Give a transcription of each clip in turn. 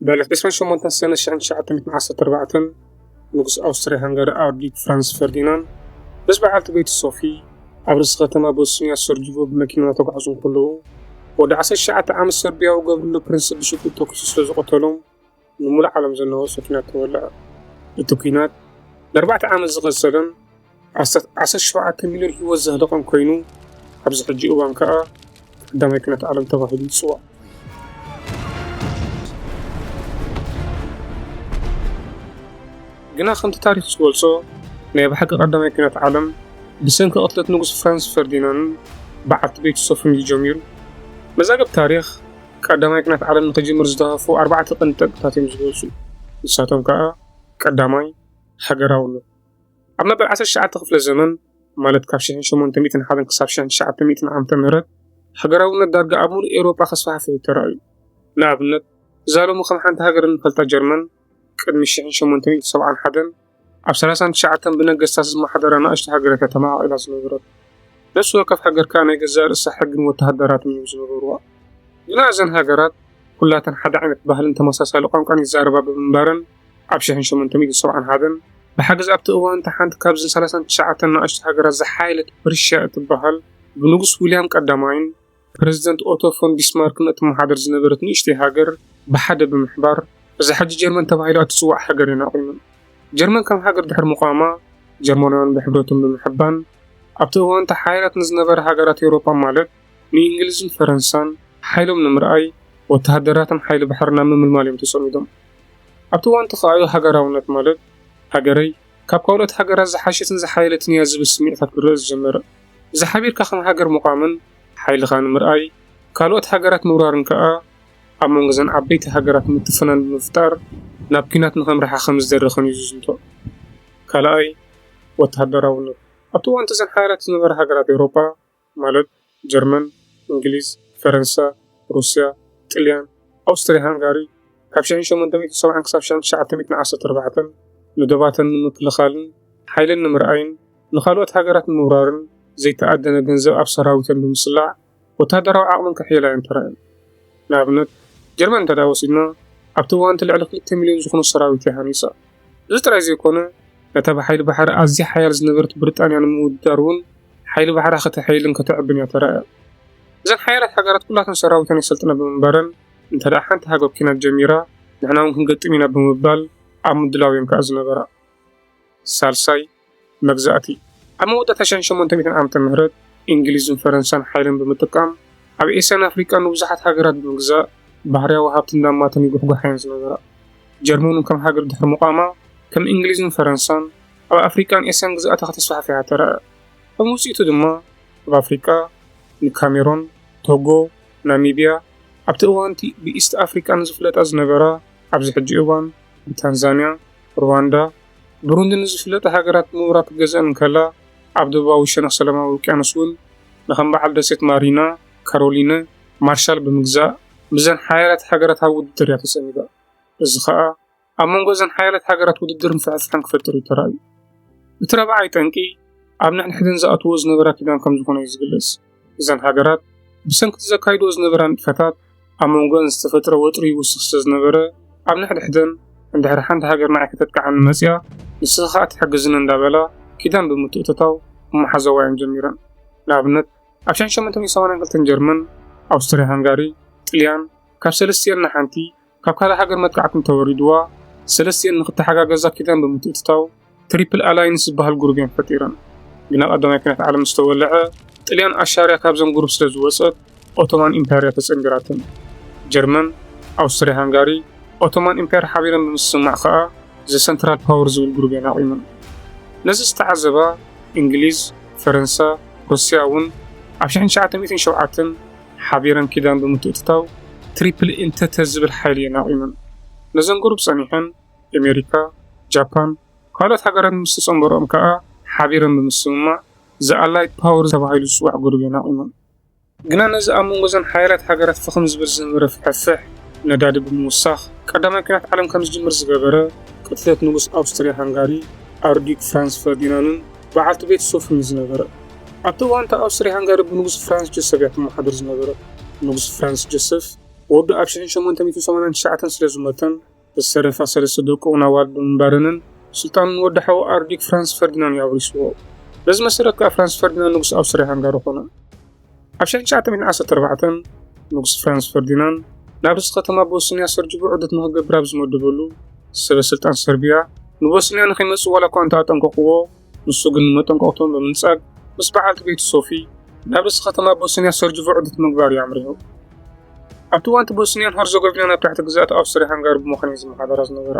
በል ዕስራን ሸሞንተን ሰነ ሽሕን ትሽዓተ ሚእትን ዓሰርተ ኣርባዕተን ንጉስ ኣውስትርያ ሃንጋሪ ኣርዲት ፍራንስ ፈርዲናንድ ምስ በዓልቲ ቤቱ ሶፊ ኣብ ርእሲ ከተማ ቦስንያ ሰርጅቮ ብመኪና እናተጓዕዙ እንከለዉ ወዲ ዓሰርተ ትሽዓተ ዓመት ሰርብያዊ ገብርሎ ፕሪንስ ብሽጉጥ ተኲሱ ስለ ዝቐተሎም ንምሉእ ዓለም ዘናወጾ ኲናት ተወልዐ። እቲ ኲናት ንኣርባዕተ ዓመት ዝቐጸለን ኣስታት ዓሰርተ ሸውዓተ ሚልዮን ህይወት ዘህለቐን ኮይኑ ኣብዚ ሕጂ እዋን ከኣ ቀዳማይ ኩነት ዓለም ተባሂሉ ይጽዋዕ። ግና ከምቲ ታሪኽ ዝገልጾ ናይ ብሓቂ ቀዳማይ ኩነት ዓለም ብሰንኪ ቅትለት ንጉስ ፍራንስ ፈርዲናንን በዓልቲ ቤቱ ሶፍን እዩ ጀሚሩ። መዛግብ ታሪኽ ቀዳማይ ኩነት ዓለም ንክጅምር ዝተሃፉ ኣርባዕተ ቀንዲ ጠንቅታት እዮም ዝገልጹ። ንሳቶም ከኣ ቀዳማይ ሃገራውነት ኣብ መበል ዓሰርተ ትሽዓተ ክፍለ ዘመን ማለት ካብ ሽሕን ሸሞንተ ሚእትን ሓደን ክሳብ ሽሕን ትሽዓተ ሚእትን ዓመተ ምህረት ሃገራውነት ዳርጋ ኣብ ምሉእ ኤውሮጳ ከስፋሕፍሕ እዩ ተራእዩ። ንኣብነት እዛ ሎሚ ከም ሓንቲ ሃገር እንፈልጣ ጀርመን ቅድሚ ሽሕን ሸሞንተ ሚእትን ሰብዓን ሓደን ኣብ ሰላሳን ትሽዓተን ብነገስታት ዝመሓደራ ንኣሽቱ ሃገራት እያ ተማቓቒላ ዝነበረት። ነፍሲ ወከፍ ሃገር ከኣ ናይ ገዛእ ርእሳ ሕግን ወተሃደራትን እዮም ዝነበርዋ። ግና እዘን ሃገራት ኩላተን ሓደ ዓይነት ባህልን ተመሳሳሊ ቋንቋን ይዛረባ ብምንባረን ኣብ ሽሕን ሸሞንተ ሚእትን ሰብዓን ሃደን፣ ብሓገዝ ኣብቲ እዋን እታ ሓንቲ ካብዘን ሰላሳን ትሽዓተን ንኣሽቱ ሃገራት ዝሓየለት ፕርሽያ እትበሃል ብንጉስ ዊልያም ቀዳማይን ፕረዚደንት ኦቶ ፎን ቢስማርክን እትመሓደር ዝነበረት ንእሽተይ ሃገር ብሓደ ብምሕባር እዛ ሕጂ ጀርመን ተባሂላ እትጽዋዕ ሃገር እየን ኣቚመን። ጀርመን ከም ሃገር ድሕሪ ምቛማ፣ ጀርመናውያን ብሕብረቶም ብምሕባን ኣብቲ እዋን እታ ሓያላት ንዝነበራ ሃገራት ኤውሮጳ ማለት ንእንግሊዝን ፈረንሳን ሓይሎም ንምርኣይ ወተሃደራትን ሓይሊ ባሕሪ ናብ ምምልማል እዮም ተጸሚዶም። ኣብቲ እዋን ተካእዮ ሃገራውነት ማለት ሃገረይ ካብ ካልኦት ሃገራት ዝሓሸትን ዝሓየለትን እያ ዝብል ስምዒታት ክርእ ዝጀመረ። እዚ ሓቢርካ ከም ሃገር ምቛምን ሓይልኻ ንምርኣይ ካልኦት ሃገራት ምውራርን ከኣ ኣብ መንጎ እዘን ዓበይቲ ሃገራት ምትፍናን ብምፍጣር ናብ ኲናት ንኸምርሓ ከም ዝደረኸን እዩ ዝዝንቶ። ካልኣይ፣ ወተሃደራውነት። ኣብቲ እዋንቲ እዘን ሓያላት ዝነበራ ሃገራት ኤውሮጳ፣ ማለት ጀርመን፣ እንግሊዝ፣ ፈረንሳ፣ ሩስያ፣ ጥልያን፣ ኣውስትርያ ሃንጋሪ፣ ካብ ሽሕን ሸሞንተ ሚእትን ሰብዓን ክሳብ ሽሕን ትሽዓተ ሚእትን ዓሰርተ ኣርባዕተን ንዶባተን ንምክልኻልን ሓይለን ንምርኣይን ንኻልኦት ሃገራት ንምውራርን ዘይተኣደነ ገንዘብ ኣብ ሰራዊተን ብምስላዕ ወተሃደራዊ ዓቕመን ከሕይላ እየን ተራእየን። ንኣብነት ጀርመን እንተድኣ ወሲድና ኣብቲ እዋን እቲ ልዕሊ ክልተ ሚልዮን ዝኹኑ ሰራዊት እያ ሃኒጻ። እዚ ጥራይ ዘይኮነ ነታ ብሓይሊ ባሕሪ ኣዝያ ሓያል ዝነበረት ብሪጣንያ ንምውድዳር እውን ሓይሊ ባሕራ ከተሐይልን ከተዕብን እያ ተራእያ። እዘን ሓያላት ሃገራት ኩላተን ሰራዊተን የሰልጥና ብምንባረን እንተድኣ ሓንቲ ሃገር ኲናት ጀሚራ ንሕና እውን ክንገጥም ኢና ብምባል ኣብ ምድላው እየን ከኣ ዝነበራ። ሳልሳይ። መግዛእቲ። ኣብ መወዳእታ ሸሕ ሸሞንተ ሚእትን ዓመተ ምህረት፣ እንግሊዝን ፈረንሳን ሓይለን ብምጥቃም ኣብ ኤስያን ኣፍሪቃን ንብዙሓት ሃገራት ብምግዛእ ባህርያዊ ሃብቲ እንዳማተን ይጉሕጓሓ'የን ዝነበራ። ጀርመን'ውን ከም ሃገር ድሕሪ ምቛማ ከም እንግሊዝን ፈረንሳን ኣብ ኣፍሪቃን ኤስያን ግዝኣታ ከተስፋሕፍሕ ተራእያ። ከም ውጽኢቱ ድማ ኣብ ኣፍሪቃ ንካሜሮን፣ ቶጎ፣ ናሚብያ፣ ኣብቲ እዋን'ቲ ብኢስት ኣፍሪቃ ንዝፍለጣ ዝነበራ፣ ኣብዚ ሕጂ እዋን ብታንዛንያ፣ ርዋንዳ፣ ብሩንዲ ንዝፍለጣ ሃገራት ምብራቕ ክትገዝኣን እንከላ፣ ኣብ ደቡባዊ ሸነኽ ሰላማዊ ውቅያኖስ እውን ንከም በዓል ደሴት ማሪና፣ ካሮሊነ፣ ማርሻል ብምግዛእ ምስዘን ሓያላት ሃገራት ኣብ ውድድር እያ ተጸሚዳ። እዚ ከኣ ኣብ መንጎ እዘን ሓያላት ሃገራት ውድድርን ፍሕፍሕን ክፈጥር እዩ ተራእዩ። እቲ ራብዓይ ጠንቂ ኣብ ንሕንሕደን ዝኣትውኦ ዝነበራ ኪዳን ከም ዝኾነ እዩ ዝግለጽ። እዘን ሃገራት ብሰንኪ'ቲ ዘካይድኦ ዝነበራ ንጥፈታት ኣብ መንጎኣን ዝተፈጥረ ወጥሪ ይውስኽ ስለ ዝነበረ ኣብ ንሕድሕደን እንድሕር ሓንቲ ሃገር ንዓይ ከተጥቅዓኒ መጺኣ ንስኺ ከኣ ትሕግዝኒ እንዳበላ ኪዳን ብምትእትታው ምሓዘዋ'የን ጀሚረን። ንኣብነት ኣብ ሸሕን ሸሞንተን ሰማንያን ክልተን ጀርመን፣ ኣውስትርያ-ሃንጋሪ፣ ጥልያን ካብ ሰለስቲኤን ንሓንቲ፣ ካብ ካልእ ሃገር መጥቃዕቲ እንተወሪድዋ ሰለስቲኤን ንኽተሓጋገዛ ኪዳን ብምትእትታው ትሪፕል ኣላይንስ ዝበሃል ጉሩብ እየን ፈጢረን። ግና ቀዳማይ ኩናት ዓለም ምስ ተወልዐ ጥልያን ኣሻርያ ካብዘን ጉሩብ ስለ ዝወጸት ኦቶማን ኢምፓየር'ያ ተጸንቢራተን። ጀርመን፣ ኣውስትርያ ሃንጋሪ፣ ኦቶማን ኢምፓየር ሓቢረን ብምስምማዕ ከኣ ዘ ሰንትራል ፓወር ዝብል ጉሩብ እየን ኣቚመን። ነዚ ዝተዓዘባ እንግሊዝ፣ ፈረንሳ፣ ሩስያ እውን ኣብ ሽሕን ትሽዓተ ሚእትን ሸውዓተን ሓቢረን ኪዳን ብምትእትታው ትሪፕል ኢንተተ ዝብል ሓይሊ እየን ኣቚመን። ነዘን ቁሩብ ጸኒሐን ኤሜሪካ፣ ጃፓን ካልኦት ሃገራት ምስ ተጸንበርኦም ከኣ ሓቢረን ብምስምማዕ ዘ ኣላይድ ፓወር ተባሂሉ ዝጽዋዕ ጉሩብ እየን ኣቚመን። ግና ነዚ ኣብ መንጎ እዘን ሓያላት ሃገራት ፍኽም ዝብል ዝነበረ ፍሕፍሕ ነዳዲ ብምውሳኽ ቀዳማይ ኲናት ዓለም ከም ዝጅምር ዝገበረ፣ ቅትለት ንጉስ ኣውስትርያ ሃንጋሪ ኣርዲዩክ ፍራንዝ ፈርዲናንን በዓልቲ ቤቱ ሶፍርን ዝነበረ፣ ኣብቲ እዋን እታ ኣውስትርያ-ሃንጋሪ ብንጉስ ፍራንስ ጆሰፍ እያ ትመሓደር ዝነበረት። ንጉስ ፍራንስ ጆሰፍ ወዱ ኣብ ሽሕን ሸሞንተ ሚእትን ሰማንያን ትሽዓተን ስለ ዝሞተን፣ ዝተረፋ ሰለስተ ደቁ'ውን ኣዋልድ ብምንባረንን፣ ስልጣኑ ንወዲ ሓዉ ኣርድዩክ ፍራንስ ፈርዲናን እዩ ኣውሪስዎ። በዚ መሰረት ከኣ ፍራንስ ፈርዲናን ንጉስ ኣውስትርያ-ሃንጋሪ ኮነ። ኣብ ሽሕን ትሽዓተ ሚእትን ዓሰርተ ኣርባዕተን፣ ንጉስ ፍራንስ ፈርዲናን ናብ ርእሲ ከተማ ቦስንያ ሰርጅቡ ዑደት ንኽገብር ኣብ ዝመደበሉ፣ ሰበ-ስልጣን ሰርብያ ንቦስንያ ንኸይመጽእ ዋላ'ኳ እንተ ኣጠንቀቑዎ፣ ንሱ ግን ንመጠንቀቕቶም ብምንጻግ ምስ በዓልቲ ቤቱ ሶፊ ናብ ርእሲ ከተማ ቦስንያ ሰርጅቮ ዑደት ምግባር እዩ ኣምሪሑ። ኣብቲ እዋንቲ ቦስንያን ሀርዘጎቪናን ኣብ ትሕቲ ግዝኣት ኣውስትሪያ ሃንጋሪ ብምዃን እየን ዝመሓደራ ዝነበራ።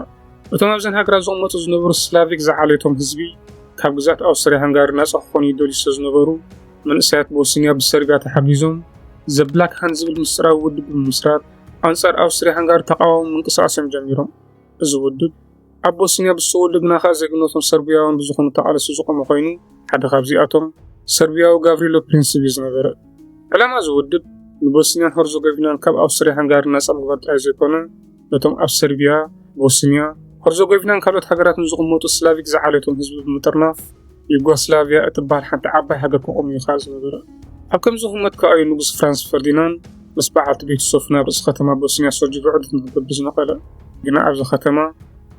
እቶም ኣብዘን ሃገራት ዝቕመጡ ዝነበሩ ስላቪክ ዝዓሌቶም ህዝቢ ካብ ግዝኣት ኣውስትሪያ ሃንጋሪ ናጻ ክኾኑ ይደልዩ ስለ ዝነበሩ መንእሰያት ቦስንያ ብሰርቢያ ተሓጊዞም ዘ ብላክ ሃንድ ዝብል ምስጢራዊ ውድብ ብምምስራት ኣንጻር ኣውስትሪያ ሃንጋሪ ተቓዋሚ ምንቅስቓስ እዮም ጀሚሮም። እዚ ውድብ ኣብ ቦስንያ ብዝሰወ ልግናኻ ዜግነቶም ሰርብያውያን ብዝኾኑ ተቓለስቲ ዝቖመ ኮይኑ፣ ሓደ ካብዚኣቶም ሰርብያዊ ጋቭሪሎ ፕሪንሲቭ እዩ ዝነበረ። ዕላማ እዚ ውድብ ንቦስንያን ሀርዞገቪናን ካብ ኣውስትርያ-ሃንጋሪ ናጻ ምግባር ጥራይ ዘይኮነ፣ ነቶም ኣብ ሰርብያ፣ ቦስንያ፣ ሀርዞገቪናን ካልኦት ሃገራትን ዝቕመጡ ስላቪክ ዝዓሌቶም ህዝቢ ብምጥርናፍ፣ ዩጎስላቪያ እትበሃል ሓንቲ ዓባይ ሃገር ክቆም እዩ ከኣ ዝነበረ። ኣብ ከምዚ ኩመት ከኣ እዩ ንጉስ ፍራንስ ፈርዲናንድ ምስ በዓልቲ ቤቱ ሶፊ ናብ ርእሲ ከተማ ቦስንያ ሶርጅቮ ዑደት ንክገብር ዝነቐለ። ግና ኣብዚ ከተማ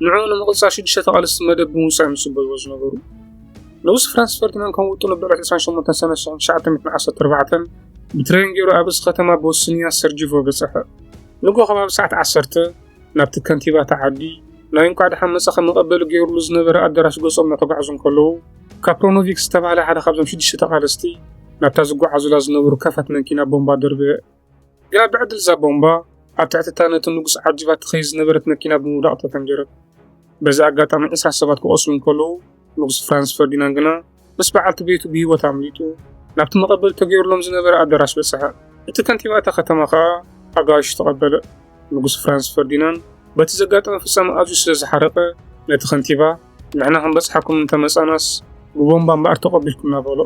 ንዕኡ ንምቕጻል ሽዱሽተ ተቓለስቲ መደብ ብምውጻእ እዮም ዝጽበይዎ ዝነበሩ። ንጉስ ፍራንስ ፈርዲናንድ ከም ውጥኑ ብዕለት ዕስራን ሸሞንተን ሰነ ሽሕን ትሽዓተ ሚእትን ዓሰርተ ኣርባዕተን ብትሬን ገይሩ ኣብ ርእሲ ከተማ ቦስንያ ሰርጅቮ በጸሐ። ንግሆ ከባቢ ሰዓት ዓሰርተ ናብቲ ከንቲባ እታ ዓዲ ናይ እንቋዕ ደሓን መጻኺ መቐበሊ ገይሩሉ ዝነበረ ኣደራሽ ገጾም እናተጓዕዙ እንከለዉ፣ ካፕሮኖቪክ ዝተባህለ ሓደ ካብዞም ሽዱሽተ ተቓለስቲ ናብታ ዝጓዓዙላ ዝነበሩ ከፈት መንኪና ቦምባ ደርበየ። ግና ብዕድል እዛ ቦምባ ኣብ ትሕቲ እታ ነቲ ንጉስ ዓጂባ እትኸይድ ዝነበረት መኪና ብምውዳቕ ተፈንጀረት። በዚ ኣጋጣሚ ዕስራ ሰባት ክቖስሉ እንከለዉ፣ ንጉስ ፍራንስ ፈርዲናንድ ግና ምስ በዓልቲ ቤቱ ብህይወት ኣምሊጡ ናብቲ መቐበሊ ተገይሩሎም ዝነበረ ኣደራሽ በጽሐ። እቲ ከንቲባ እታ ከተማ ከኣ ኣጋይሹ ተቐበለ። ንጉስ ፍራንስ ፈርዲናንድ በቲ ዘጋጠመ ፍጻመ ኣዝዩ ስለ ዝሓረቐ ነቲ ከንቲባ ንሕና ክንበጽሓኩም እንተ መጻእናስ ብቦምባ እምበኣር ተቐቢልኩምና በሎ።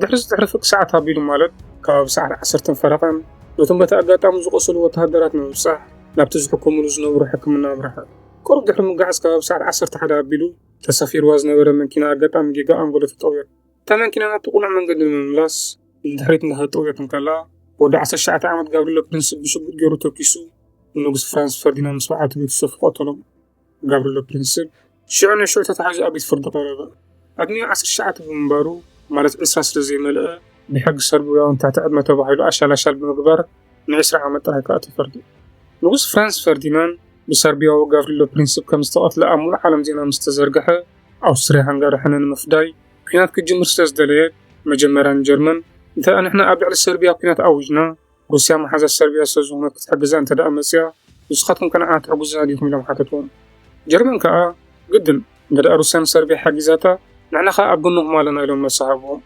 ድሕርዚ ድሕሪ ፍርቂ ሰዓት ኣቢሉ ማለት ከባቢ ሰዓት ዓሰርተ ፈረቓን ነቶም በቲ ኣጋጣሚ ዝቖሰሉ ወተሃደራት ንምብጻሕ ናብቲ ዝሕከሙሉ ዝነበሩ ሕክምና ኣምረሐ። ቅሩብ ድሕሪ ምግዓዝ ከባቢ ሰዓት ዓሰርተ ሓደ ኣቢሉ ተሳፊሩዋ ዝነበረ መኪና ኣጋጣሚ ጌጋ ኣንጎሎ ተጠውዮት። እታ መኪና ናብቲ ቅኑዕ መንገዲ ንምምላስ ንድሕሪት እንዳተጠውዮት እንከላ፣ ወዲ ዓሰርተ ትሽዓተ ዓመት ጋብሪሎ ፕሪንስ ብሽጉጥ ገይሩ ተኲሱ ንንጉስ ፍራንስ ፈርዲናንድ ምስ በዓልቲ ቤቱ ሶፊ ቀተሎም። ጋብሪሎ ፕሪንስ ሽዑ ንሽዑ ተታሒዙ ኣብ ቤት ፍርዲ ቀረበ። ዕድሚኡ ዓሰርተ ትሽዓተ ብምንባሩ ማለት ዕስራ ስለ ዘይመልአ ብሕጊ ሰርብያውን ትሕቲ ዕድመ ተባሂሉ ኣሻላሻል ብምግባር ንዕስራ ዓመት ጥራይ ከኣ ተፈርዱ። ንጉስ ፍራንስ ፈርዲናንድ ብሰርብያዊ ጋቭሪሎ ፕሪንስፕ ከም ዝተቐትለ ኣብ ምሉእ ዓለም ዜና ምስ ተዘርግሐ፣ ኣውስትርያ ሃንጋሪ ሕነ ንምፍዳይ ኲናት ክትጅምር ስለ ዝደለየት፣ መጀመርያ ንጀርመን፣ እንተ ንሕና ኣብ ልዕሊ ሰርብያ ኲናት ኣዊጅና፣ ሩስያ መሓዛ ሰርብያ ስለ ዝዀነት ክትሕግዛ እንተ መጽያ፣ ንስኻትኩም ከ ንዓና ትሕግዙና ዲኹም? ኢሎም ሓተትዎም። ጀርመን ከኣ ግድን! እንግድኣ ሩስያ ንሰርብያ ሓጊዛታ ንሕና ከኣ ኣብ ጎንኹም ኣለና ኢሎም መልሲ ሃብዎም።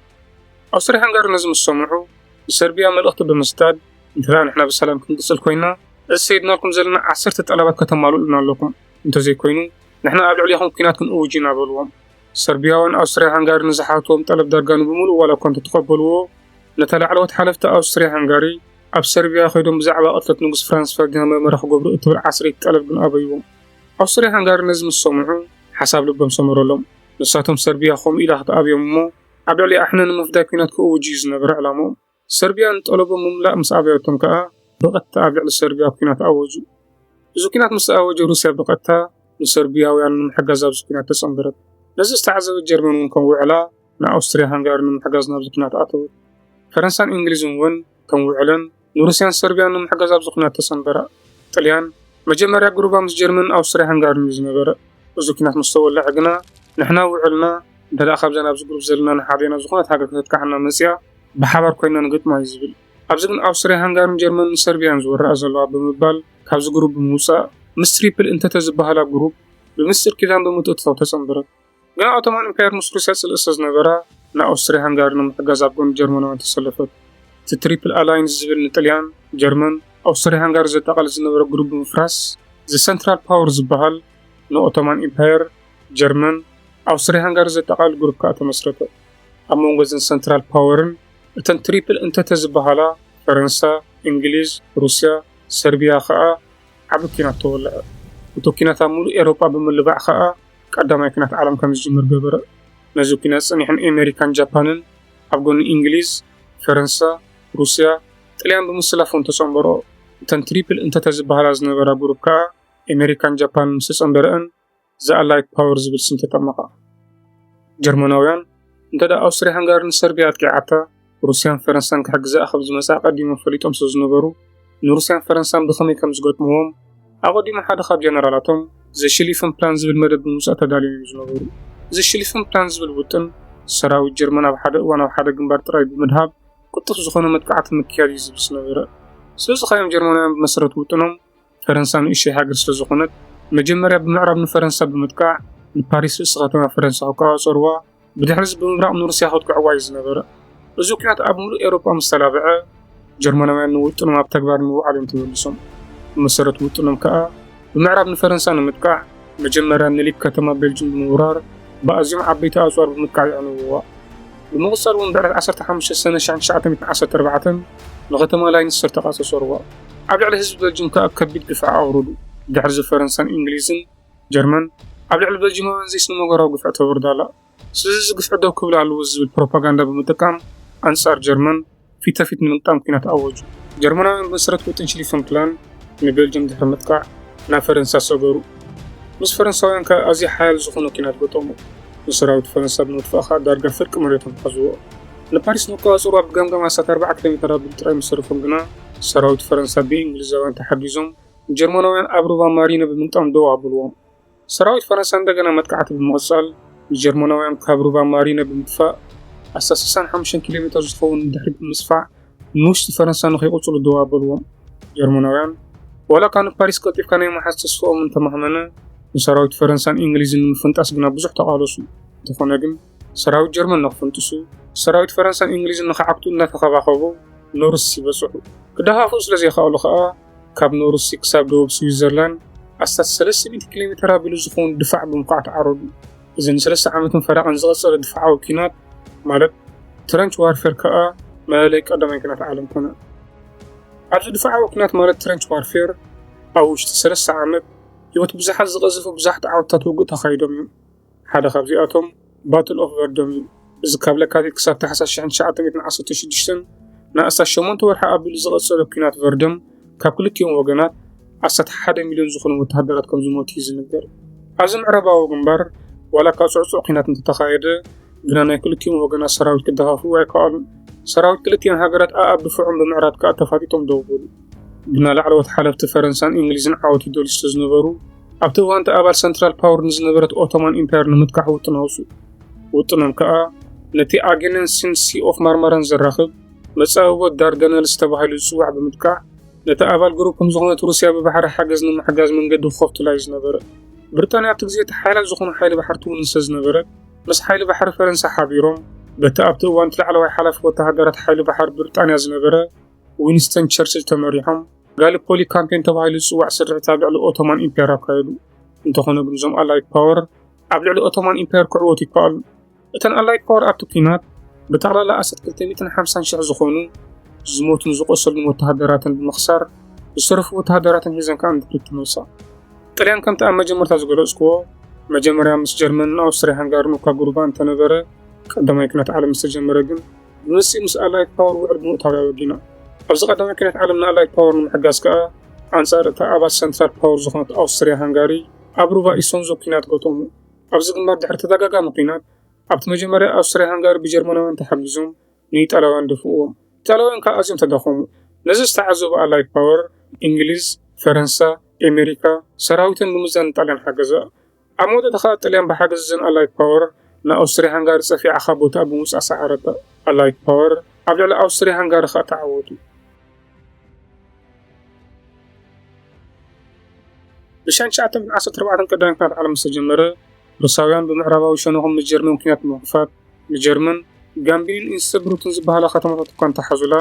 ኣውስትርያ-ሃንጋሪ ነዚ ምስ ሰምዑ ንሰርብያ መልእኽቲ ብምስዳድ እንተደኣ ንሕና ብሰላም ክንቅጽል ኮይና እዚ ሰይድናልኩም ዘለና ዓሰርተ ጠለባት ከተማልኡልና ኣለኩም እንተዘይኮይኑ ንሕና ኣብ ልዕሌኹም ኲናት ክንእውጅ ኢና በልዎም። ሰርብያውያን ኣውስትርያ-ሃንጋሪ ንዝሓትዎም ጠለብ ዳርጋ ንብምሉኡ ዋላ እኳ እንተተቐበልዎ ነታ ላዕለዎት ሓለፍቲ ኣውስትርያ-ሃንጋሪ ኣብ ሰርብያ ከይዶም ብዛዕባ ቅትለት ንጉስ ፍራንስ ፈርዲናንድ መርመራ ክገብሩ እትብል ዓስረይቲ ጠለብ ግን ኣበይዎም። ኣውስትርያ ሃንጋሪ ነዚ ምስ ሰምዑ ሓሳብ ልቦም ሰመረሎም። ንሳቶም ሰርብያ ከምኡ ኢላ ክትኣብዮም እሞ ኣብ ልዕሊኣ ኣሕነ ንምፍዳይ ኲናት ክእውጁ እዩ ዝነበረ ዕላምኦም። ሰርብያ ንጠለቦም ምምላእ ምስ ኣበየቶም ከኣ ብቐጥታ ኣብ ልዕሊ ሰርብያ ኲናት ኣወጁ። እዚ ኲናት ምስ ተኣወጀ ሩስያ ብቐጥታ ንሰርብያውያን ንምሕጋዝ ኣብዚ ኲናት ተጸንበረት። ነዚ ዝተዓዘበት ጀርመን እውን ከም ውዕላ ንኣውስትርያ ሃንጋሪ ንምሕጋዝ ናብዚ ኲናት ኣተወት። ፈረንሳን እንግሊዝን እውን ከም ውዕለን ንሩስያን ሰርብያን ንምሕጋዝ ኣብዚ ኩናት ተሰንበራ። ጥልያን መጀመርያ ግሩባ ምስ ጀርመንን ኣውስትርያ ሃንጋርን እዩ ዝነበረ። እዚ ኩናት ምስ ተወለዐ ግና ንሕና ውዕልና እንተደኣ ካብዘን ኣብዚ ግሩብ ዘለና ንሓደና ዝኾነት ሃገር ከተጥቃዓና መጺኣ ብሓባር ኮይንና ንገጥማ እዩ ዝብል። ኣብዚ ግን ኣውስትርያ ሃንጋርን ጀርመንን ሰርብያን ዝወረኣ ዘለዋ ብምባል ካብዚ ግሩብ ብምውጻእ ምስ ትሪፕል እንተተ ዝበሃላ ግሩብ ብምስጢር ኪዳን ብምትእትታው ተጸንበረት። ግና ኦቶማን እምፓየር ምስ ሩስያ ጽልኢ ስለዝነበራ ንኣውስትርያ ሃንጋሪ ንምሕጋዝ ኣብ ጎኒ ጀርመናውያን ተሰለፈት። እቲ ትሪፕል ኣላይንስ ዝብል ንጥልያን፣ ጀርመን፣ ኣውስትርያ ሃንጋሪ ዘጠቓልል ዝነበረ ግሩብ ብምፍራስ ዘሰንትራል ፓወር ዝበሃል ንኦቶማን ኢምፓየር፣ ጀርመን፣ ኣውስትርያ ሃንጋሪ ዘጠቓልል ግሩብ ከኣ ተመስረተ። ኣብ መንጎ እዘን ሰንትራል ፓወርን እተን ትሪፕል እንተተ ዝበሃላ ፈረንሳ፣ እንግሊዝ፣ ሩስያ፣ ሰርቢያ ከኣ ዓቢ ኲናት ተወልዐ። እቲ ኲናት ኣብ ምሉእ ኤሮጳ ብምልባዕ ከኣ ቀዳማይ ኩናት ዓለም ከም ዝጅምር ገበረ። ነዚ ኩናት ጸኒሖም ኤመሪካን ጃፓንን ኣብ ጎኒ እንግሊዝ፣ ፈረንሳ፣ ሩስያ፣ ጥልያን ብምስላፍ እውን ተጸንበርኦ። እተን ትሪፕል እንተተ ዝበሃላ ዝነበራ ጉሩፕ ከኣ ኤመሪካን ጃፓንን ምስ ተጸንበረእን ዘ ኣላይድ ፓወር ዝብል ስም ተጠመቓ። ጀርመናውያን እንተደኣ ኣውስትርያ ሃንጋሪ ንሰርብያ ኣጥቂዓታ፣ ሩስያን ፈረንሳን ክሕግዛኣ ከም ዝመጻ ኣቐዲሞም ፈሊጦም ስለ ዝነበሩ፣ ንሩስያን ፈረንሳን ብኸመይ ከም ዝገጥምዎም፣ ኣቐዲሙ ሓደ ካብ ጀነራላቶም ዘ ሽሊፍን ፕላን ዝብል መደብ ብምውጻእ ተዳልዮም እዮም ዝነበሩ። ዘ ሽሊፍን ፕላን ዝብል ውጥን፣ ሰራዊት ጀርመን ኣብ ሓደ እዋን ኣብ ሓደ ግንባር ጥራይ ብምድሃብ ቅልጡፍ ዝኾነ መጥቃዕቲ ምክያድ እዩ ዝብል ዝነበረ። ስለ ዝኸኣዮም ጀርመናውያን ብመሰረት ውጥኖም፣ ፈረንሳ ንእሽተይ ሃገር ስለ ዝኾነት መጀመርያ ብምዕራብ ንፈረንሳ ብምጥቃዕ ንፓሪስ ርእሲ ከተማ ፈረንሳ ክቆጻጸርዋ ብድሕሪ እዚ ብምብራቕ ንሩስያ ከጥቅዕዋ እዩ ዝነበረ። እዚ ኩናት ኣብ ምሉእ ኤውሮጳ ምስ ተላብዐ ጀርመናውያን ንውጥኖም ኣብ ተግባር ንምውዓል እዮም ተመሊሶም። ብመሰረት ውጥኖም ከኣ ብምዕራብ ንፈረንሳ ንምጥቃዕ መጀመርያ ምኒሊክ ከተማ ቤልጁም ብምውራር ብኣዝዮም ዓበይቲ ኣጽዋር ብምጥቃዕ የዕንውዋ። ብምቕጻል እውን ብዕለት ዓሰርተ ሓሙሽተ ሰነ ሽሕን ትሽዓተ ሚእትን ዓሰርተ ኣርባዕተን ንከተማ ላይንስተር ተቛጸጸርዋ። ኣብ ልዕሊ ህዝቢ ቤልጁም ከኣ ከቢድ ግፍዒ ኣውረዱ። ድሕርዚ ፈረንሳን እንግሊዝን፣ ጀርመን፣ ኣብ ልዕሊ ቤልጁማውያን ዘይስነምግባራዊ ግፍዒ ተውርድ ኣላ። ስለዚ ግፍዒ ደው ክብል ኣለዎ ዝብል ፕሮፓጋንዳ ብምጥቃም ኣንጻር ጀርመን ፊተፊት ንምግጣም ኲናት ኣወጁ። ጀርመናውያን ብመሰረት ውጥን ሽሊፈን ፕላን ንቤልጅየም ድሕሪ ምጥቃዕ ናብ ፈረንሳ ሰገሩ። ምስ ፈረንሳውያን ከኣ ኣዝዩ ሓያል ዝኾነ ኲናት ገጠሙ። ንሰራዊት ፈረንሳ ብምጥፋእ ከኣ ዳርጋ ፍርቂ መሬቶም ሓዝዎ። ንፓሪስ ንክቆጻጸሩዋ ብገምጋም ኣስታት ኣርብዓ ኪሎሜተር ኣቢሉ ጥራይ ምስ ተረፎም ግና፣ ሰራዊት ፈረንሳ ብእንግሊዛውያን ተሓጊዞም ንጀርመናውያን ኣብ ሩባ ማሪነ ብምግጣም ደው ኣብልዎም። ሰራዊት ፈረንሳ እንደገና መጥቃዕቲ ብምቕጻል፣ ንጀርመናውያን ካብ ሩባ ማሪነ ብምጥፋእ፣ ኣስታት ስሳን ሓሙሽተን ኪሎ ሜተር ዝኸውን ድሕሪት ብምስፋሕ ንውሽጢ ፈረንሳ ንከይቕጽሉ ደው ኣበልዎም። ጀርመናውያን፣ ዋላ'ኳ ንፓሪስ ቀልጢፍካ ናይ ምሓዝ ተስፋኦም እንተማህመነ፣ ንሰራዊት ፈረንሳን እንግሊዝን ንምፍንጣስ ግና ብዙሕ ተቓለሱ። እንተኾነ ግን፣ ሰራዊት ጀርመን ንክፍንጥሱ፣ ሰራዊት ፈረንሳን እንግሊዝን ንክዓግቱ እናተኸባኸቡ ኖርስ ይበጽሑ። ክደሃኽኡ ስለዘይከኣሉ ከኣ፣ ካብ ኖርሲ ክሳብ ደቡብ ስዊዘርላንድ ኣስታት ሰለስተ ሚእቲ ኪሎ ሜተር ኣቢሉ ዝኸውን ድፋዕ ብምዃዕ ተዓረዱ። እዚ ንሰለስተ ዓመትን ፈረቓን ዝቐጸለ ድፋዓዊ ኲናት ማለት ትረንች ዋርፌር ከኣ መለለይ ቀዳማይ ኲናት ዓለም ኮነ። ኣብዚ ድፋዓዊ ኲናት ማለት ትረንች ዋርፌር ኣብ ውሽጢ ሰለስተ ዓመት ህይወት ብዙሓት ዝቐዘፉ ብዙሓት ዓወትታት ውግእ ተኻይዶም እዮም። ሓደ ካብዚኣቶም ባትል ኦፍ ቨርዶም እዩ። እዚ ካብ ለካቲት ክሳብ ታሕሳስ 1916ን ንኣስታት ሸሞንተ ወርሒ ኣቢሉ ዝቐጸለ ኲናት ቨርዶም ካብ ክልቲኦም ወገናት ኣስታት ሓደ ሚልዮን ዝኾኑ ወተሃደራት ከም ዝሞቱ እዩ ዝንገር። ኣብዚ ምዕራባዊ ግንባር ዋላ እኳ ጽዕጹዕ ኲናት እንተተኻየደ ግና ናይ ክልቲኦም ወገናት ሰራዊት ክደኻኽቡ ኣይከኣሉን። ሰራዊት ክልቲኤን ሃገራት ኣኣብ ድፍዖም ብምዕራድ ከኣ ተፋጢጦም ደው በሉ። ግና ላዕለዎት ሓለፍቲ ፈረንሳን እንግሊዝን ዓወት ይደልዩ ስለዝነበሩ ኣብቲ እዋን እቲ ኣባል ሰንትራል ፓወር ንዝነበረት ኦቶማን ኢምፓየር ንምጥቃሕ ውጥን ኣውፅኡ። ውጥኖም ከዓ ነቲ ኣጌነንሲን ሲ ኦፍ ማርማራን ዘራኽብ መፃብቦ ዳርዳነልስ ተባሂሉ ዝፅዋዕ ብምጥቃዕ ነቲ ኣባል ግሩፕም ዝኾነት ሩስያ ብባሕሪ ሓገዝ ንምሕጋዝ መንገዲ ክኸፍቱላ እዩ ዝነበረ። ብሪጣንያ ኣብቲ ግዜ እቲ ሓያላት ዝኾኑ ሓይሊ ባሕሪ ትውንን ስለዝነበረት ምስ ሓይሊ ባሕሪ ፈረንሳ ሓቢሮም በቲ ኣብቲ እዋን እቲ ላዕለዋይ ሓላፊ ወተሃደራት ሓይሊ ባሕሪ ብሪጣንያ ዝነበረ ዊንስተን ቸርችል ተመሪሖም ጋሊፖሊ ካምፔን ተባሂሉ ዝጽዋዕ ስርሒት ኣብ ልዕሊ ኦቶማን ኢምፓየር ኣካየዱ። እንተኾነ ግን እዞም ኣላይድ ፓወር ኣብ ልዕሊ ኦቶማን ኢምፓየር ክዕወቱ ይከኣሉ። እተን ኣላይድ ፓወር ኣብቲ ኲናት ብጠቕላላ ኣሰት 250 ሽሕ ዝኾኑ ዝሞቱን ዝቆሰሉን ወተሃደራተን ብምኽሳር ዝተረፉ ወተሃደራተን ሒዘን ከዓ ንድሕሪት ተመልሳ። ጥልያን ከምቲ ኣብ መጀመርታ ዝገለጽክዎ መጀመርያ ምስ ጀርመንን ኣውስትሪያ ሃንጋርን እኳ ጉርባ እንተነበረ ቀዳማይ ኲናት ዓለም ዝተጀመረ ግን ንሩስይ ምስ ኣላይት ፓወር ውዕል ብምእታው እያ ወጊና። ኣብዚ ቀዳማይ ኲናት ዓለም ንኣላይት ፓወር ንምሕጋዝ ከኣ፣ ኣንጻር እታ ኣባት ሰንትራል ፓወር ዝኾነት ኣውስትርያ-ሃንጋሪ ኣብ ሩባ ኢሶንዞ ኲናት ገጠሙ። ኣብዚ ግንባር ድሕሪ ተደጋጋሚ ኲናት፣ ኣብቲ መጀመርያ ኣውስትርያ-ሃንጋሪ ብጀርመናውያን ተሓጊዞም ንኢጣልያውያን ደፍኡዎም። ኢጣልያውያን ከኣ ኣዝዮም ተዳኸሙ። ነዚ ዝተዓዘቡ ኣላይት ፓወር፣ እንግሊዝ፣ ፈረንሳ፣ ኤመሪካ፣ ሰራዊተን ብምዛን ንጣልያን ሓገዛ። ኣብ መወዳእታ ከኣ ጥልያን ብሓገዝ እዘን ኣላይድ ፓወር ንኣውስትርያ-ሃንጋሪ ጸፊዓ ካብ ቦትኣ ብምውጻእ ሰዓረታ። ኣላይድ ፓወር ኣብ ልዕሊ ኣውስትርያ-ሃንጋሪ ከኣ ተዓወቱ። ብሻን ትሽዓተ ዓሰርተ ኣርባዕተ ቀዳማይ ኩናት ዓለም ምስ ተጀመረ፣ ሩሳውያን ብምዕራባዊ ሸነኾም ንጀርመን ኩናት ብምኽፋት ንጀርመን ጋምቢንን ኢንስተብሩክን ዝበሃላ ከተማታት እኳ እንተሓዙላ፣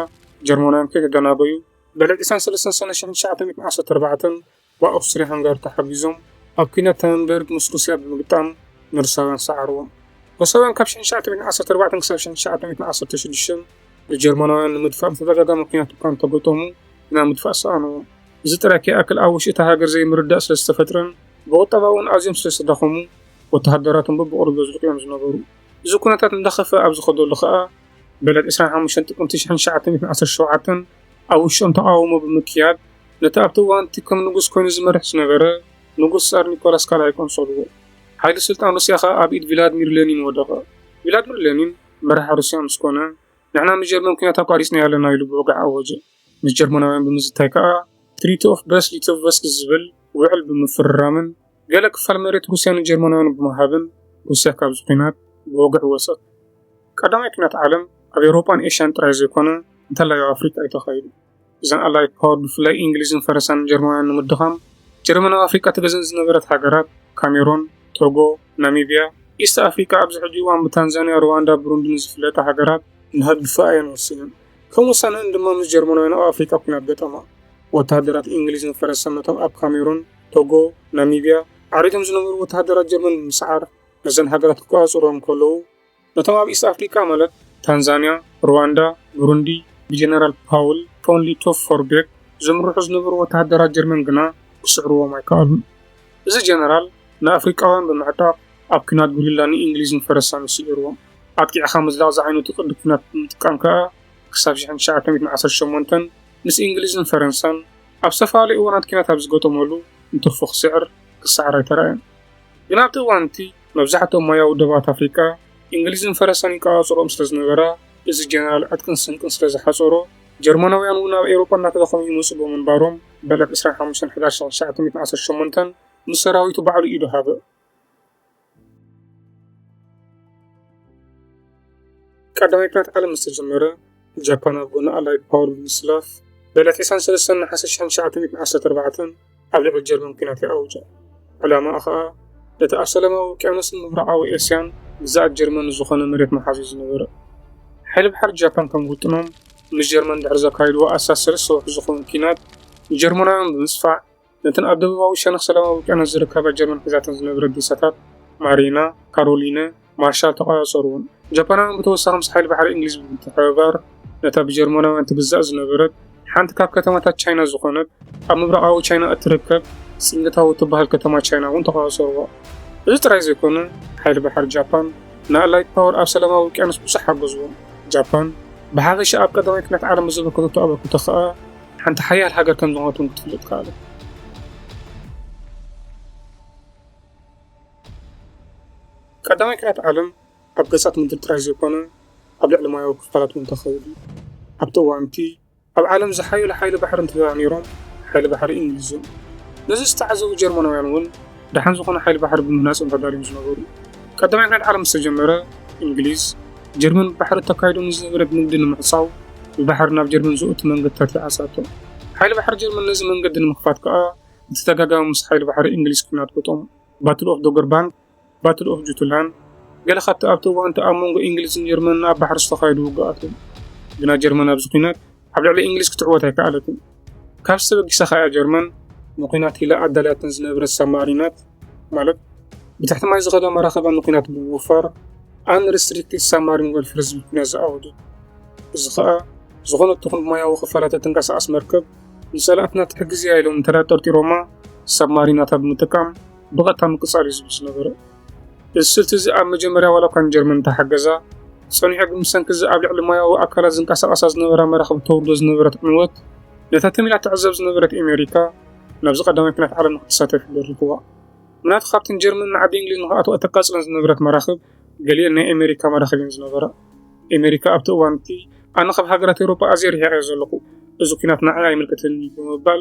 ጀርመናውያን ከይተደናጎዩ፣ ብዕለት ዕስራን ሰለስተን ሰነ ሽሕን ትሽዓተ ሚእትን ዓሰርተ ኣርባዕተን ብኣውስትርያ-ሃንጋሪ ተሓጊዞም ኣብ ኲናት ታንበርግ ምስ ሩስያ ብምግጣም ንሩሳውያን ሰዓርዎም። ሩሳውያን ካብ ሽሕን ትሽዓተ ሚእትን ዓሰርተ ኣርባዕተን ክሳብ ሽሕን ትሽዓተ ሚእትን ዓሰርተ ሽዱሽተን ንጀርመናውያን ንምድፋእ ብተደጋጋሚ ኲናት እኳ እንተገጠሙ ግና ምድፋእ ሰኣንዎም። እዚ ጥራይ ከይኣክል ኣብ ውሽጢ እታ ሃገር ዘይምርድዳእ ስለ ዝተፈጥረን ብቑጠባ'ውን ኣዝዮም ስለ ዝተዳኸሙ ወተሃደራቶም በብቕሩብ የዝልቑ እዮም ዝነበሩ። እዚ ኩነታት እንዳኸፍኣ ኣብ ዝኸደሉ ከኣ ብዕለት ዕስራን ሓሙሽተን ጥቅምቲ ሽሕን ትሽዓተ ሚእትን ዓሰርተ ሸውዓተን ኣብ ውሽጦም ተቓውሞ ብምክያድ ነቲ ኣብቲ እዋን'ቲ ከም ንጉስ ኰይኑ ዝመርሕ ዝነበረ ንጉስ ጻር ኒኮላስ ካልኣይ ቆንጸልዎ። ሓይሊ ስልጣን ሩስያ ኸኣ ኣብ ኢድ ቪላድሚር ለኒን ወደቐ። ቪላድሚር ለኒን መራሒ ሩስያ ምስ ኰነ፣ ንሕና ምስ ጀርመን ኲናት ኣቋሪጽናዮ ኣለና ኢሉ ብወግዒ ኣወጀ። ምስ ጀርመናውያን ብምዝታይ ከኣ ትሪቲ ኦፍ ብረስት ሊቶቭስክ ዝብል ውዕል ብምፍርራምን ገለ ክፋል መሬት ሩስያ ንጀርመናውያን ብምሃብን ሩስያ ካብዚ ኲናት ብወግዒ ወጸት። ቀዳማይ ኲናት ዓለም ኣብ ኤውሮጳን ኤሽያን ጥራይ ዘይኰነ እንተላይ ኣብ ኣፍሪቃ'ዩ ተኻይዱ። እዘን ኣላይድ ፓወር ብፍላይ ኢንግሊዝን ፈረሳን ጀርመናውያን ንምድኻም ጀርመን ኣብ ኣፍሪቃ ትገዝእን ዝነበረት ሃገራት ካሜሮን ቶጎ ናሚብያ ኢስት ኣፍሪቃ ኣብዚ ሕጂ እዋን ብታንዛንያ ሩዋንዳ ብሩንድን ዝፍለጣ ሃገራት ንክድግፋ እየን ወሲነን። ከም ውሳነኣን ድማ ምስ ጀርመናውያን ኣብ ኣፍሪቃ ኩናት ገጠማ። ወተሃደራት ኢንግሊዝን ፈረሳን ነቶም ኣብ ካሜሩን ቶጎ ናሚብያ ዓሪዶም ዝነበሩ ወተሃደራት ጀርመን ብምስዓር ነዘን ሃገራት ክቆጻጸሩወን ከለዉ፣ ነቶም ኣብ ኢስት ኣፍሪቃ ማለት ታንዛንያ፣ ሩዋንዳ፣ ብሩንዲ ብጀነራል ፓውል ፖንሊ ቶፍ ፎርቤክ ዝምርሑ ዝነበሩ ወተሃደራት ጀርመን ግና ክስዕርዎም ኣይከኣሉን። እዚ ጀነራል ንኣፍሪቃውያን ብምዕጣቕ ኣብ ኲናት ጉሪላ ንእንግሊዝን ፈረሳን እዩ ስዒርዎም። ኣጥቂዕካ ምዝላቕ ዝዓይነቱ ቅዲ ኲናት ብምጥቃም ከኣ ክሳብ ሽሕን ትሽዓተ ሚእትን ዓሰርተ ሸሞንተን ምስ እንግሊዝን ፈረንሳን ኣብ ዝተፈላለዩ እዋናት ኲናት ኣብ ዝገጠመሉ ንቶፎ ክስዕር ክሰዓር ኣይተራእየን። ግን ኣብቲ እዋን እቲ መብዛሕትኦም ሞያዊ ዶባት ኣፍሪቃ እንግሊዝን ፈረሰን ይቀጻጸሮም ስለ ዝነበራ፣ እዚ ጀነራል ዕጥቅን ስንቅን ስለ ዝሓጸሮ፣ ጀርመናውያን እውን ኣብ ኤውሮጳ እናተዳኸሙ ይመጹ ብምንባሮም፣ በለ ብ ዕስራን ሓሙሽተን ሕዳር ሽሕ ትሽዓተ ሚእትን ዓሰርተ ሸሞንተን ምስ ሰራዊቱ ባዕሉ ኢዱ ሃበ። ቀዳማይ ኩናት ዓለም ምስ ተጀመረ፣ ጃፓን ኣብ ጎኒ ኣላይድ ፓወር ብምስላፍ ብዕለት ዕስራን ሰለስተን ነሓሰ ሽሕን ትሽዓተ ሚእትን ዓሰርተ ኣርባዕተን ኣብ ልዕሊ ጀርመን ኲናት ይኣውጃ። ዕላማኣ ኸኣ ነቲ ኣብ ሰላማዊ ውቅያኖስን ምብራቓዊ ኤስያን ግዝኣት ጀርመን ንዝኾነ መሬት ምሓዝ እዩ ዝነበረ። ሓይሊ ባሕሪ ጃፓን ከም ውጥኖም ምስ ጀርመን ድሕሪ ዘካይድዎ ኣስታት ሰለስተ ወርሒ ዝኸውን ኲናት ንጀርመናውያን ብምጽፋዕ ነተን ኣብ ደቡባዊ ሸነኽ ሰላማዊ ውቅያኖስ ዝርከባ ጀርመን ሒዛተን ዝነበረት ዴሳታት ማሪና፣ ካሮሊነ፣ ማርሻል ተቖጻጸሩወን። ጃፓናውያን ብተወሳኺ ምስ ሓይሊ ባሕሪ እንግሊዝ ብምትሕብባር ነታ ብጀርመናውያን ትግዛእ ዝነበረት ሓንቲ ካብ ከተማታት ቻይና ዝኾነት ኣብ ምብራቓዊ ቻይና እትርከብ ሲንግታው እትበሃል ከተማ ቻይና እውን ተቖጻጸሩዋ። እዚ ጥራይ ዘይኮነ ሓይሊ ባሕሪ ጃፓን ንኣላይድ ፓወር ኣብ ሰላማዊ ውቅያኖስ ብዙሕ ሓገዝዎም። ጃፓን ብሓፈሻ ኣብ ቀዳማይ ኲናት ዓለም ብዘበርከተቶ ኣበርክቶ ከኣ ሓንቲ ሓያል ሃገር ከም ዝኾነት እውን ክትፍልጥ ከኣሉ። ቀዳማይ ኩናት ዓለም ኣብ ገጻት ምድሪ ጥራይ ዘይኮነ ኣብ ልዕሊ ማያዊ ክፋላት እውን ተኸይዱ እዩ። ኣብቲ እዋን እቲ ኣብ ዓለም ዝሓየሉ ሓይሊ ባሕሪ እንተድኣ ነይሮም ሓይሊ ባሕሪ እንግሊዝ እዮም። ነዚ ዝተዓዘቡ ጀርመናውያን እውን ደሓን ዝኾነ ሓይሊ ባሕሪ ብምህናፆም ተዳልዮም ዝነበሩ። ቀዳማይ ኩናት ዓለም ምስ ተጀመረ እንግሊዝ፣ ጀርመን ብባሕሪ እተካይዶ ንዝነበረት ንግዲ ንምዕፃው ብባሕሪ ናብ ጀርመን ዘእቱ መንገድታት ይዓፅኣቶ። ሓይሊ ባሕሪ ጀርመን ነዚ መንገዲ ንምኽፋት ከዓ ብተደጋጋሚ ምስ ሓይሊ ባሕሪ እንግሊዝ ኩናት ገጠሙ። ባትል ኦፍ ዶገር ባንክ፣ ባትል ኦፍ ጁትላንድ ገለ ካብቲ ኣብቲ እዋን እቲ ኣብ መንጎ እንግሊዝን ጀርመንን ኣብ ባሕሪ ዝተኻየዱ ውግኣት እዮም። ግና ጀርመን ኣብዚ ኩናት ኣብ ልዕሊ እንግሊዝ ክትዕወት ኣይከኣለትን። ካብዚ ተበጊሳ ከኣ ጀርመን ንኲናት ኢላ ኣዳልያተን ዝነበረት ሳብማሪናት ማለት ብትሕቲ ማይ ዝኸዳ መራኽባ ንኲናት ብምውፋር ኣንሪስትሪክትድ ሳብማሪን ወርፌር ዝብል ኲናት ዝኣወጀት። እዚ ከኣ ዝኾነት ትኹን ብሞያዊ ክፋላት እትንቀሳቐስ መርከብ ንጸላእትና ትሕግዝ እያ ኢሎም እንተድኣ ጠርጢሮማ ሳብማሪናታ ብምጥቃም ብቐጥታ ምቅጻል እዩ ዝብል ዝነበረ። እዚ ስልቲ እዚ ኣብ መጀመርያ ዋላ እኳ ንጀርመን እንተሓገዛ፣ ጸኒሑ ግን ብሰንኪ እዚ ኣብ ልዕሊ ማያዊ ኣካላት ዝንቀሳቐሳ ዝነበራ መራኽብ እተውርዶ ዝነበረት ዕንወት፣ ነታ ትም ኢላ እትዕዘብ ዝነበረት ኤመሪካ ናብዚ ቀዳማይ ኩናት ዓለም ንክትሳተፍ ደሪኹዋ። ምናቱ ካብተን ጀርመን ንዓዲ እንግሊዝ ንክኣትዋ እተቃጽለን ዝነበረት መራኽብ ገሊኤን ናይ ኤመሪካ መራኽብ እየን ዝነበራ። ኤመሪካ ኣብቲ እዋን እቲ ኣነ ካብ ሃገራት ኤውሮጳ ኣዝየ ርሒቐ እየ ዘለኹ፣ እዚ ኩናት ንዓይ ኣይምልከተንን እዩ ብምባል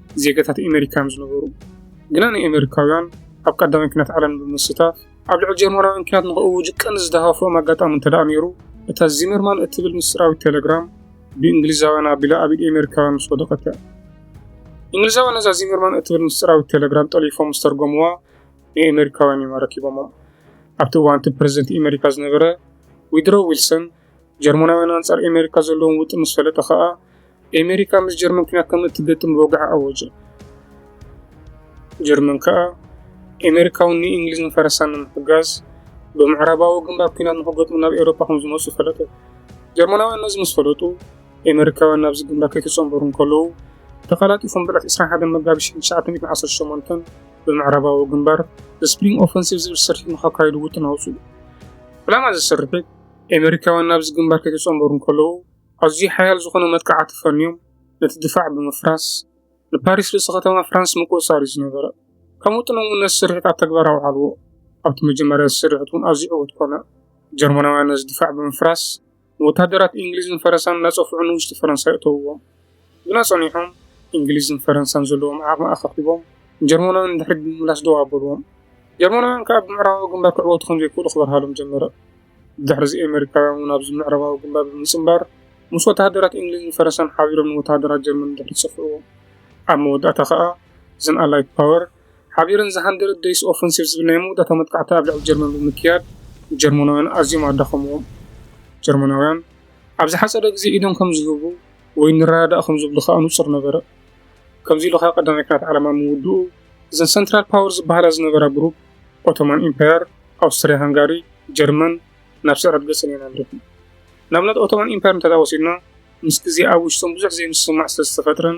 ዜጋታት ኤመሪካ እዮም ዝነበሩ። ግና ንኤመሪካውያን ኣብ ቀዳማይ ኩናት ዓለም ብምስታፍ ኣብ ልዕሊ ጀርመናውያን ኩናት ንክእውጁ ቀንዲ ዝደፋፍኦም ኣጋጣሚ እንተደኣ ነይሩ እታ ዚመርማን እትብል ምስጢራዊት ተለግራም ብእንግሊዛውያን ኣቢላ ኣብ ኢድ ኤመሪካውያን ምስ ወደቐት እያ። እንግሊዛውያን ነዛ ዚመርማን እትብል ምስጢራዊት ተለግራም ጠሊፎም ምስ ተርጎምዋ ንኤመሪካውያን እዮም ኣረኪቦሞም። ኣብቲ እዋን እቲ ፕረዚደንት ኤመሪካ ዝነበረ ዊድሮ ዊልሰን ጀርመናውያን ኣንጻር ኤሜሪካ ዘለዎም ውጥን ምስ ፈለጠ ከኣ ኤሜሪካ ምስ ጀርመን ኩናት ከም እትገጥም ብወግዒ ኣወጀ። ጀርመን ከኣ ኤሜሪካውን ንእንግሊዝ ንፈረሳን ንምሕጋዝ ብምዕራባዊ ግንባር ኩናት ንክገጥሙ ናብ ኤውሮፓ ከም ዝመጹ ፈለጡ። ጀርመናውያን ነዚ ምስ ፈለጡ ኤሜሪካውያን ናብዚ ግንባር ከይተጸንበሩ እንከለዉ ተቐላጢፎም ብዕለት 21 መጋቢት 1918 ብምዕራባዊ ግንባር ስፕሪንግ ኦፈንሲቭ ዝብል ስርሒት ንኸካይዱ ውጥን ኣውጽኡ። ዕላማ እዚ ስርሒት ኤመሪካውያን ናብዚ ግንባር ከይተጸንበሩ እንከለዉ፣ ኣዝዩ ሓያል ዝኾነ መጥቃዕቲ ፈንዮም ነቲ ድፋዕ ብምፍራስ፣ ንፓሪስ ርእሲ ከተማ ፍራንስ ምቁጽጻር እዩ ዝነበረ። ከም ውጥኖም'ውን ነዚ ስርሒት ኣብ ተግባር ኣውዓልዎ። ኣብቲ መጀመርያ እዚ ስርሒት እውን ኣዝዩ ዕዉት ኮነ። ጀርመናውያን ነዚ ድፋዕ ብምፍራስ፣ ንወተሃደራት እንግሊዝን ፈረሳን እናጸፍዑ ንውሽጢ ፈረንሳ የእተውዎም። ግና ጸኒሖም እንግሊዝን ፈረንሳን ዘለዎም ዓቕሚ ኣኻኺቦም ንጀርመናውያን ንድሕሪት ብምምላስ ደው ኣበልዎም። ጀርመናውያን ከኣ ብምዕራባዊ ግንባር ክዕወቱ ከም ዘይክእሉ ክበርሃሎም ጀመረ። ብድሕርዚ ኤመሪካውያን እውን ኣብዚ ምዕራባዊ ግንባር ብምጽንባር ምስ ወተሃደራት እንግሊዝን ፈረንሳን ሓቢሮም ንወተሃደራት ጀርመን ንድሕሪት ጸፍዕዎም። ኣብ መወዳእታ ከኣ እዘን ኣላይድ ፓወር ሓቢረን ዘ ሃንድረድ ደይስ ኦፈንሲቭ ዝብል ናይ መወዳእታ መጥቃዕቲ ኣብ ልዕሊ ጀርመን ብምክያድ ንጀርመናውያን ኣዝዮም ኣዳኸምዎም። ጀርመናውያን ኣብ ዝሓጸረ ግዜ ኢዶም ከም ዝህቡ ወይ ንረዳዳእ ከም ዝብሉ ከኣ ንጹር ነበረ። ከምዚ ኢሉ ከኣ ቀዳማይ ኲናት ዓለም ኣብ ምውድኡ እዘን ሰንትራል ፓወር ዝበሃላ ዝነበራ ግሩፕ፣ ኦቶማን ኢምፓየር፣ ኣውስትርያ ሃንጋሪ፣ ጀርመን፣ ናብ ስዕረት ገጸን እየን ኣምሪሐን። ንኣብነት ኦቶማን ኢምፓየር እንተድኣ ወሲድና ምስ ግዜ ኣብ ውሽጦም ብዙሕ ዘይምስምማዕ ስለ ዝተፈጥረን፣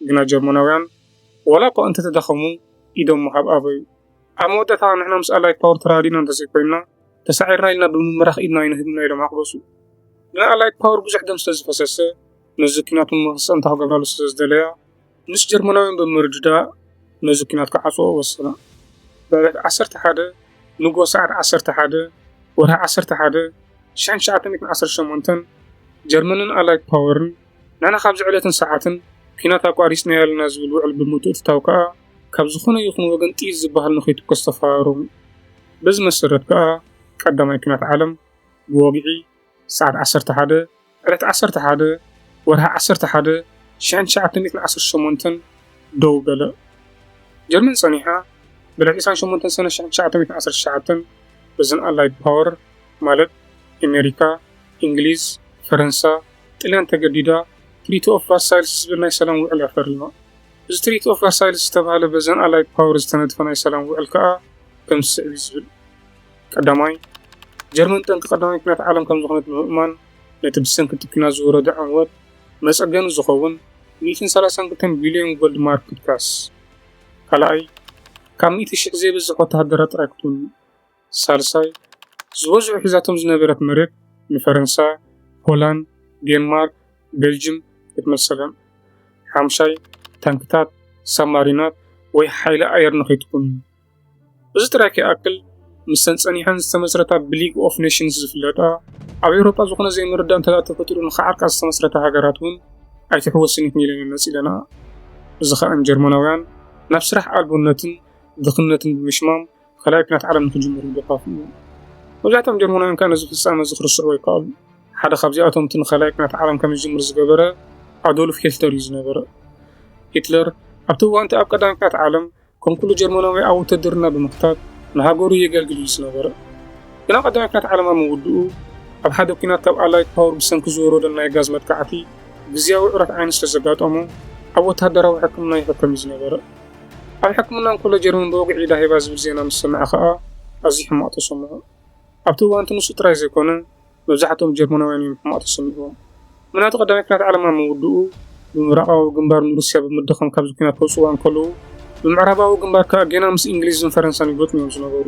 ግና ጀርመናውያን ዋላ እኳ እንተ ተዳኸሙ ኢዶም ምሃብ ኣበዩ። ኣብ መወዳእታ ንሕና ምስ ኣላይድ ፓወር ተራዲና እንተዘይኮይንና ተሳዒርና ኢልና ብምምራኽ ኢድና ኣይንህብና ኢሎም ኣቕበሱ። ግና ኣላይድ ፓወር ብዙሕ ደም ስለ ዝፈሰሰ ነዚ ኩናት ንምክሰም ታክገብራሉ ስለ ዝደለያ ምስ ጀርመናውያን ብምርድዳእ ነዚ ኩናት ክዓጽዎ ወሰና። ብዕለት ዓሰርተ ሓደ ንጎ ሰዓት ዓሰርተ ሓደ ወርሒ ዓሰርተ ሓደ ሽሕን ትሽዓተ ሚእትን ዓሰርተ ሸሞንተን ጀርመንን ኣላይድ ፓወርን ንሕና ካብዚ ዕለትን ሰዓትን ኲናት ኣቋሪጽናዮ ኣለና ዝብል ውዕል ብምትእትታው ከኣ ካብ ዝኾነ ይኹን ወገን ጥይት ዝበሃል ንኸይትኮስ ተፈራረሙ። በዚ መሰረት ከኣ ቀዳማይ ኲናት ዓለም ብወግዒ ሰዓት ዓሰርተ ሓደ፣ ዕለት ዓሰርተ ሓደ፣ ወርሒ ዓሰርተ ሓደ፣ ሽሕን ትሽዓተ ሚእትን ዓሰርተ ሸሞንተን ደው በለ። ጀርመን ጸኒሓ ብዕለት ዕስራን ሸሞንተን ሰነ ሽሕን ትሽዓተ ሚእትን ዓሰርተ ትሽዓተን በዘን ኣላይድ ፓወር ማለት ኣሜሪካ፣ እንግሊዝ፣ ፈረንሳ፣ ጥልያን ተገዲዳ ትሪቲ ኦፍ ቫርሳይልስ ዝብል ናይ ሰላም ውዕል እያ ፈሪማ። እዚ ትሪቲ ኦፍ ቫርሳይልስ ዝተባህለ በዘን ኣላይድ ፓወር ዝተነድፈ ናይ ሰላም ውዕል ከኣ ከምዚ ስዕብ እዩ ዝብል። ቀዳማይ፣ ጀርመን ጠንቂ ቀዳማይ ኩናት ዓለም ከም ዝኾነት ብምእማን ነቲ ብሰንኪ እቲ ኩናት ዝወረደ ዕንወት መጸገኒ ዝኸውን ሚእትን ሰላሳን ክልተን ቢልዮን ጎልድ ማርክ ክትካስ። ካልኣይ፣ ካብ ሚእቲ ሽሕ ዘይበዝሕ ወተሃደራ ጥራይ ክትውንን። ሳልሳይ ዝበዝሑ ሒዛቶም ዝነበረት መሬት ንፈረንሳ፣ ሆላንድ፣ ዴንማርክ፣ ቤልጅም ክትመልሰለን እያ። ሓምሻይ ታንክታት፣ ሳብማሪናት ወይ ሓይሊ ኣየር ንኸይትኩን። እዚ ጥራይ ከይኣክል ምስተን ጸኒሐን ዝተመስረታ ብሊግ ኦፍ ኔሽንስ ዝፍለጣ ኣብ ኤውሮጳ ዝኾነ ዘይምርዳእ እንተደኣ ተፈጢሩ ንኸዓርቃ ዝተመስረታ ሃገራት እውን ኣይትሕወስን እዩ ክንኢለን መጺለና እዚ ከኣን ጀርመናውያን ናብ ስራሕ ኣልቦነትን ድኽነትን ብምሽማም ካልኣይ ኩናት ዓለም ንክጅምር ምድርኻፉ እዩ። መብዛሕትኦም ጀርመናውያን ከኣ ነዚ ፍጻመ እዚ ክርስዑዎ ኣይከኣሉ። ሓደ ካብዚኣቶም እቲ ንካልኣይ ኩናት ዓለም ከም ዝጅምር ዝገበረ ኣዶልፍ ሂትለር እዩ ዝነበረ። ሂትለር ኣብቲ እዋንቲ ኣብ ቀዳማይ ኩናት ዓለም ከም ኩሉ ጀርመናዊ ኣብ ውትድርና ብምክታት ንሃገሩ የገልግል እዩ ዝነበረ። ግና ቀዳማይ ኩናት ዓለም ኣብ ምውድኡ ኣብ ሓደ ኩናት ካብ ኣላይት ፓወር ብሰንኪ ዝወረዶ ናይ ጋዝ መጥቃዕቲ ግዝያዊ ዑረት ዓይኒ ስለዘጋጠሞ ኣብ ወተሃደራዊ ሕክምና ይሕከም እዩ ዝነበረ። ኣብ ሕክምና እንከሎ ጀርመን ብወግዒ ኢዳ ሂባ ዝብል ዜና ምስ ሰምዐ ከኣ ኣዝዩ ሕማቕ ተሰምዖ። ኣብቲ እዋን'ቲ ንሱ ጥራይ ዘይኮነ መብዛሕትኦም ጀርመናውያን እዮም ሕማቕ ተሰሚዕዎም። ምናቱ ቀዳማይ ኲናት ዓለም ኣብ ምውድኡ፣ ብምብራቓዊ ግንባር ንሩስያ ብምድኻም ካብዚ ኲናት ከውጽእዋ እንከለዉ፣ ብምዕራባዊ ግንባር ከኣ ጌና ምስ እንግሊዝን ፈረንሳን ይገጥሙ እዮም ዝነበሩ።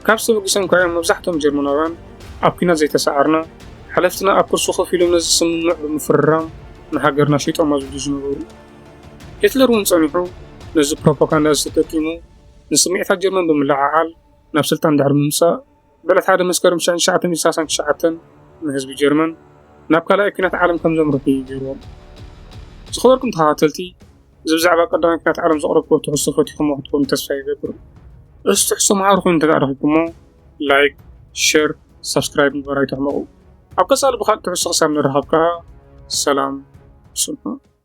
ካብዚ ተበጊሶም ከኣ እዮም መብዛሕትኦም ጀርመናውያን ኣብ ኲናት ዘይተሳዓርና፣ ሓለፍትና ኣብ ኩርሲ ኮፍ ኢሎም ነዚ ስምምዕ ብምፍርራም ንሃገርና ሸይጦማ ዝብሉ ዝነበሩ። ሂትለር እውን ጸኒሑ ነዚ ፕሮፓጋንዳ እዚ ተጠቂሙ ንስምዒታት ጀርመን ብምልዕዓል ናብ ስልጣን ድሕሪ ምምጻእ ብዕለት ሓደ መስከረም ሽሕን ትሽዓተ ሚእትን ሰላሳን ትሽዓተን ንህዝቢ ጀርመን ናብ ካልኣይ ኩናት ዓለም ከም ዘምርሑ እዩ ገይርዎም። ዝኸበርኩም ተኸታተልቲ እዚ ብዛዕባ ቀዳማይ ኩናት ዓለም ዘቕረብኩዎ ትሕዝቶ ፈቲኹሞ ክትኮኑ ተስፋ ይገብር። እዚ ትሕዝቶ መሃሪ ኮይኑ እንተድኣ ረኺብኩሞ ላይክ፣ ሸር፣ ሳብስክራይብ ምግባር ኣይትሕመቑ። ኣብ ቀጻሊ ብኻልእ ትሕዝቶ ክሳብ ንራኸብ ከኣ ሰላም ስንሑ።